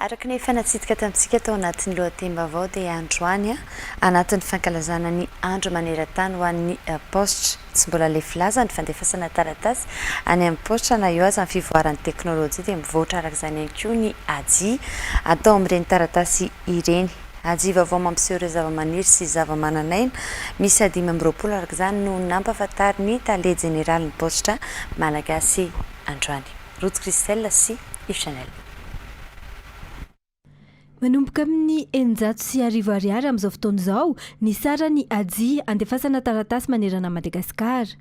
Araka ny efa natsidika tamintsika tao anatin'ny lohatenim-baovao dia androany, anatin'ny fankalazana ny andro maneran-tany ho an'ny paositra, Tsy mbola lefy laza ny fandefasana taratasy any amin'ny paositra na eo aza ny fivoaran'ny teknolojia dia mivoatra araka izany ihany koa ny AJI atao amin'ireny taratasy ireny. AJI vaovao mampiseho ireo zavamaniry sy zavamananaina miisa dimy amby roapolo araka izany no nampahafantarin'ny tale jeneralin'ny paositra malagasy androany. Ruth Christelle sy Yves Chanel. Manomboka amin'ny eninjato sy arivo ariary amin'izao fotoana izao ny saran'i Haji andefasana taratasy manerana an'i Madagasikara.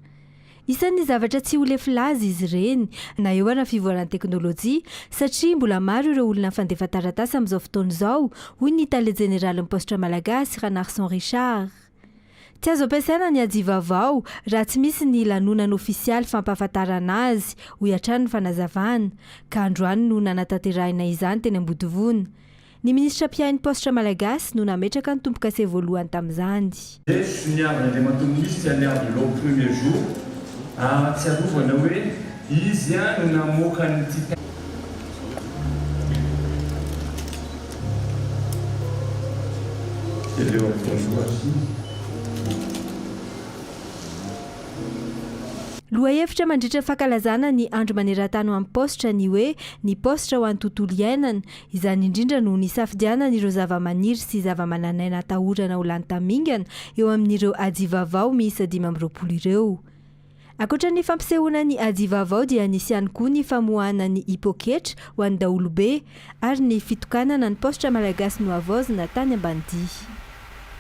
Isan'ny zavatra tsy ho lefy laza izy ireny na eo ara fivoaran'ny teknolojia satria mbola maro ireo olona mpandefa taratasy amin'izao fotoana izao, hoy ny tale jeneralin'ny paositra malagasy, Ranarison Richard. Tsy azo ampiasaina ny ajivavao raha tsy misy ny lanonana ofisialy fampahafantarana azy, hoy hatrany ny fanazavana, ka androany no nanatanterahina izany teny Ambodivona. Ny minisitra mpiahy ny paositra malagasy no nametraka ny tombo-kase voalohany tamin'izany. Eto soniavin' Andriamatoa Minisitra an' i Iavoloha premier jour ahatsiarovana hoe izy ihany no namoaka an'ity. Lohahevitra mandritra ny fankalazana ny Andro maneran-tany ho an'ny paositra ny hoe Ny paositra ho an'ny tontolo iainana. Izany indrindra no nisafidianana ireo zavamaniry sy zavamananaina atahorana ho lany tamingana eo amin'ireo ajivavao miisa dimy amby roapolo ireo. Ankoatra ny fampisehoana ny aji vaovao dia nisy ihany koa ny famoahana ny i Poketra ho an'ny daholobe ary ny fitokanana ny paositra Malagasy nohavaozina tany Ambanidia.